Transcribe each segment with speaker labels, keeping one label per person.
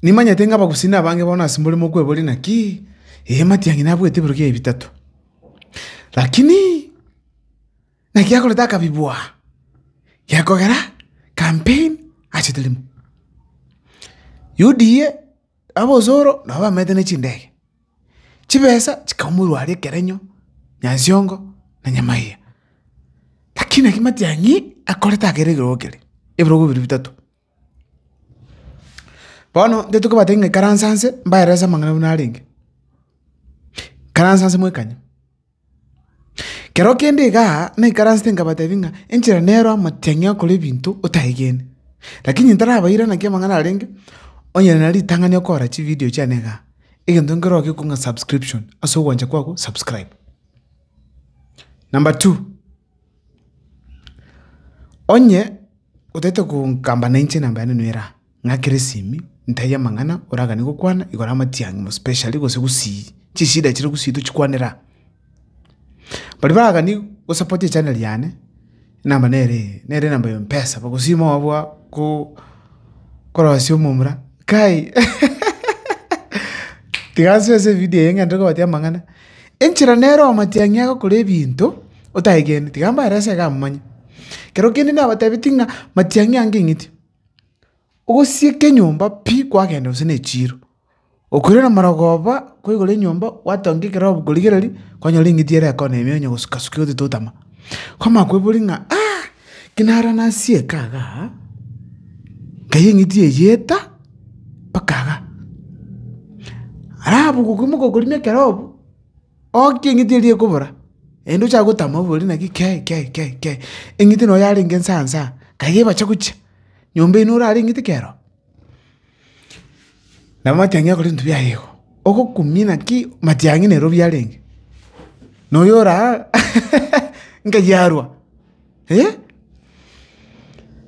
Speaker 1: Nimanyete ng'a abagusini abange bono asemore mokweboria naki, ee, matiang'i nabuete ebirogo ebi bitato. Lakini naki akorete akabi bwa gekogera campaign ase eterimo. UDA aba osoro nabo bamenyete ne chindege, chibesa chikaumorwa aria ekerenyo, nyansiongo na nyamaiga. Lakini naki matiang'i akorete akeregererio keria, ebirogo biria bitato. Bono intwe tokobatebia ng'a ikaranse anse mbaelese amang'ana buna arenge, ikaranse anse mwekanye. Kero kende igaa naikaransete nkabatebia ng'a enchera nero amatiang'i akore ebinto otaegene. Lakini ntarabaira naki amang'ana arenge, onye na ritang'ani okora chividio chiane igaa, egento nkeroo gekogwa ng'a subscription ase ogwancha kwago subscribe. Number two. Onye otaete konkamba na inche enamba yane nigo ere aa, ng'akere esimi, ntaiyo amang'ana oraganie gokwana igoro amatiang'i mospecially gose gusii, chishida chire gusii tochikwanere aa. Baria baragani gosapota echaneri yane, enamba nere eye, nere enamba ya mpesa, bagosima obua ko- korosia omomura, kai tiga nsoe ase evidio eye ng'ende kobatebi amang'ana. Enchera nere omatiang'i agokora ebinto otaegeneti, tiga mbare ase iga amomanye. Ekero kende nabatebitie ng'a matiang'i ange eng'iti, ogosieka enyomba pi kwagenda gose na echiiro, okoirana na amarogoba ko igoro y'enyomba gwatonga ekerogo korigereria kwanyora eng'iti ere ekona ime onye gosukasuka egoteta otama. Kwamanya koiboria ng'a aa, ki nara nasieka igaa, nkai eng'iti eye eta. bakagaa. Arabu gokoimoka okorina ekerobu, okie eng'iti eria ekobora, naende ochake gotama obore naki kei kei kei kei, eng'iti noyo yarenge nsaa nsaa, kaiga ebache gochia, nyomba eywo norare eng'iti kero. Nabo matiang'i akore ebinto biaye igo, ogokumia naki matiang'i nairobi yarenge, na oyo oraa nkayi arwa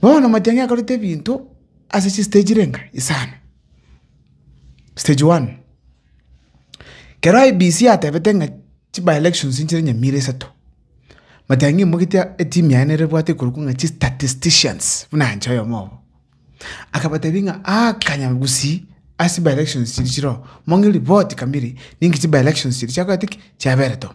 Speaker 1: bono matiang'i akorete ebinto ase chisteji renga isano. Stage one, kero IEBC yatebete ng'a chibaelections nchire nyamira isato, matiang'i mogote etimu yaye nere ebwate ekorokwa ng'a chistatisticians buna inche oyomo obo, akabatebi ng'a aa kanya gusii ase chibaelections chiria chire oo, mong'e ripoti kamiri ninki chibaelections chiria chiakorete ki? Chiaberete oo.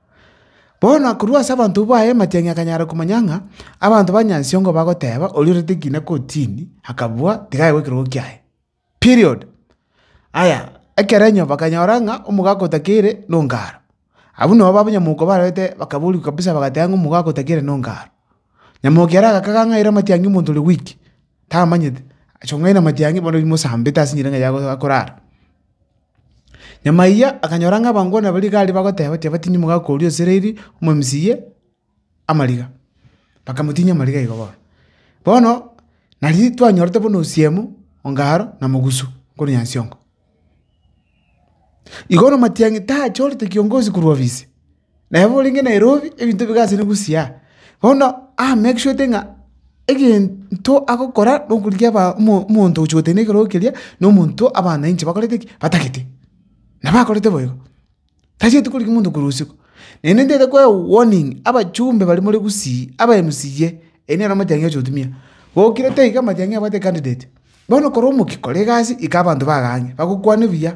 Speaker 1: Bono akorua ase abanto baye amatiang'i akanyara komanya ng'a abanto ba Nyansiongo bagoteba oria orete ekina kotini akabua tiga aigwe ekerogo kiaye. Period. Aya, ekerenyo bakanyora ng'a omogaka otakeire na ongaro. Abwo nabo abanyamoko barwete bakaboria kabisa bagateba ng'a omogaka otakeire na ongaro. Nyamokia ere agakaga ang'aire amatiang'i omonto ore weak, tamanyete, achia kong'aina amatiang'i bono riria mosambete ase enyereng'a yago akorara. Nyuma eyio akanyora ng'a abanto bono baria igare bagoteba, tibati nimoke akoria Isiraeli omomisa oye amariga. Bakamotinyia amariga igo bono. Bono, nario twanyorete buna osiemo, ongaro, na mogusu korwa Nyansiongo. Igo bono amatiang'i tachorete kiongozi korwa ofisi. Naye borenge Nairobi ebinto bigachene bosio aa, bono amake sure ote ng'a egento agokora na okorigia omonto ogochia gotenena ekerogo keria na omonto abana inche bakorete ki? batagete. Na bakorete bo igo, tachieti korigia omonto korwa usiku. Naende ntaete koe warning abachumbe baria more Gusii, aba mca, eri nere amatiang'i agochia gotumia. Gokire taiga amatiang'i abwate candidate. Bono kore omokia kora egasi ika abanto bago ang'e, bagokwane buya.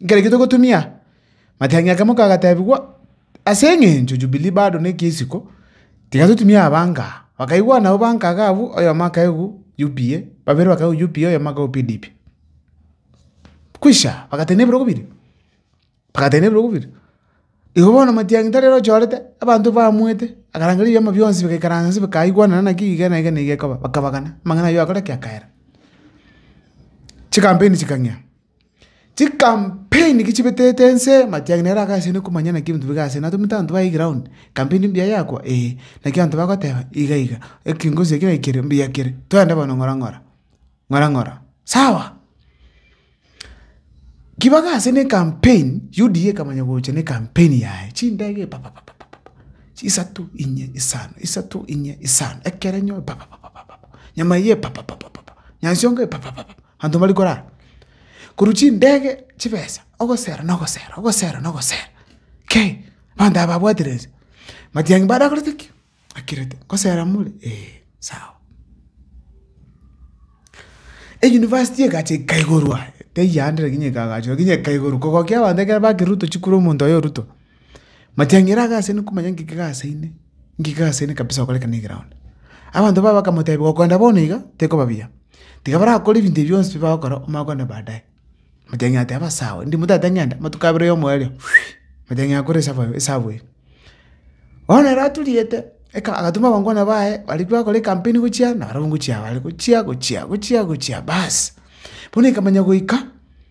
Speaker 1: Nkere ki togotumia? Matiang'i ake moka agatebigwa, Ase engencho Jubili bado nekia isiko, tiga totumie abanka. Bakaigwa nabo banka agabu, oyomo akaigwa UPA, babere bakaigwa UPA, oyomo akaigwa PDP. Kwisha, bagatari ne ebirogo biria, bagatari ne ebirogo biria. Igo bono Matiang'i tari ere ochorete, abanto baamwete, akarangeria ebiama bionsi bikaikaransa inse bikaigwanana naki iga na iga na iga ekoba, bakabagana, amang'ana ayio agakora ki? Akaera. Chikampeni chikang'ea. Chikampeni ki chibetete ense, matiang'i nere agachene na komanya naki ebinto bire asene. Natomete abanto baye eground, kampeni mbuya yakwa? Ee. Naki abanto bagoteba, iga iga, ekengosi eke naki kere, mbuya kere, twende bono ng'ora ng'ora, ng'ora ng'ora, sawa. Ki bagasene ekampeni, UDA ekamanya gocha na ekampeni yaye, chindege papapapapapa, chisato, inye, isano, isato, inye, isano, ekerenyo papapapapapa, nyama eye papapapapapa, nyasiongo eye papapapapa. Abanto mbari korara korwa chindege chibesa, ogosera na ogosera, ogosera na ogosera, kei! Abanto aba babwatire inse. Matiang'i mbare akorete ki? Akirete, ngosera more? Eeh, sawa. Eyunivasiti egacha ekaiborwa, teyio ande lakini ekagachwa, lakini ekaiborwa, kogokia abanto ekero bakerutwa chikuru omonto oye orutwa. Matiang'ira agasene komanya ng'iki gase ine, ng'iki gase ine kabisa ogokora ekero ne egeround. Abanto babo bakamotebia, gokonda bono iga tekoba buya, tiga barakore ebinto ebi bionsi bi bagokora omanye okogenda baadaye. Matiang'ina ateba sawa, ndimo tata ng'enda, amatuko abere oyomo oerio matiang'ina akore esabu eye esabu eye. Bono ere aturiete, eka agatuma abangwana baye baria bagokora ekampeni gochia nabarabwo ngochia bare, gochia gochia gochia gochia baas, bono ekamanya goika.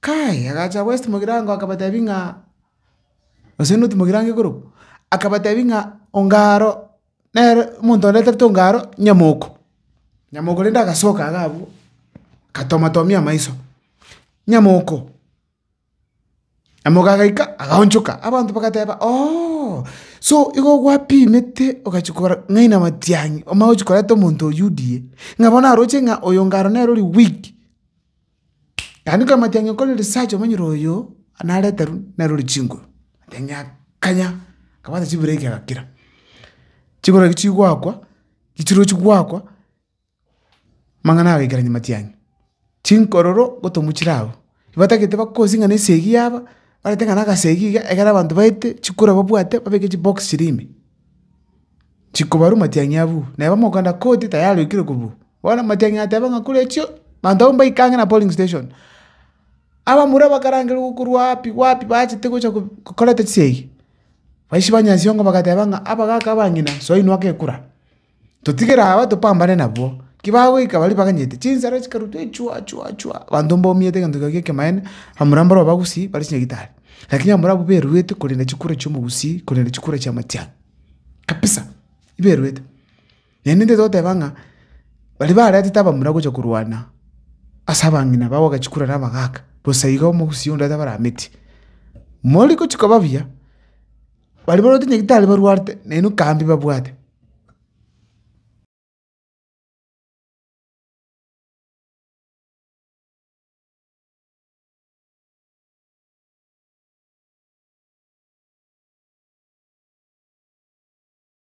Speaker 1: Kae agacha gwesiti mogirango akabatebia ng'a, gose noti mogirango igoro, akabatebia ng'a onga aro nere omonto onde tarete onga aro nyamoko, nyamoko rende agasoka iga abwo, agatomatomia amaiso, nyamoko, nyamoko agaika agaonchoka, abanto bagateba ooh, so igo gwapimete ogachia kogora ng'ai na matiang'i omanye gochia koreta omonto oyio die, ng'a bono aroche ng'a oyo onga aro nere ore weak. Naende nkamanya ng'a nkore research omonyene oyo nareta rwa narore chinguru, aya ng'akanya nkabwata chibureki agakira. Chinguru echio chigoakwa, echirochi goakwa, amang'ana agaikarania matiang'i. Chinkororo ngotomochire abwo, batagete bakosie ng'a na esegi yaba, barente ng'a na agasegi iga egere abanto baete chikura babwate babeke chibox chiria ime. Chikobarwa matiang'i abwo, naye bamokana koti tayari oikire kobua. Bono Matiang'i ateba ng'a kore echio, abanto abwo mbaikange na polling station. Abamura bakarangerwa korwa wapi wapi bachete gocha ko- kokoreta chisegi, baichi ba Nyasiongo bagateba ng'a abagaka abang'ina soinwa gekura, totigere aba topambane nabwo, ki bagoika baria baganyete, chinsara chikarutwa echwa chwa chwa, abanto mbaumete egento keria gie ekemaene, abamura mboro abagusii bare chinyagitari, lakini abamura abwo beruete korenda chikura chi'omogusii korenda chikura chia Matiang'i, kabisa, iberuete. Naende intwe togoteba ng'a baria baretete abamura gocha korwana ase abang'ina babo bagachi kura na abagaaka, bosa igo omogusii onde atabarameti. Mori gochi koba buya, baria barwete nyagetari barwate naende kambe babwate.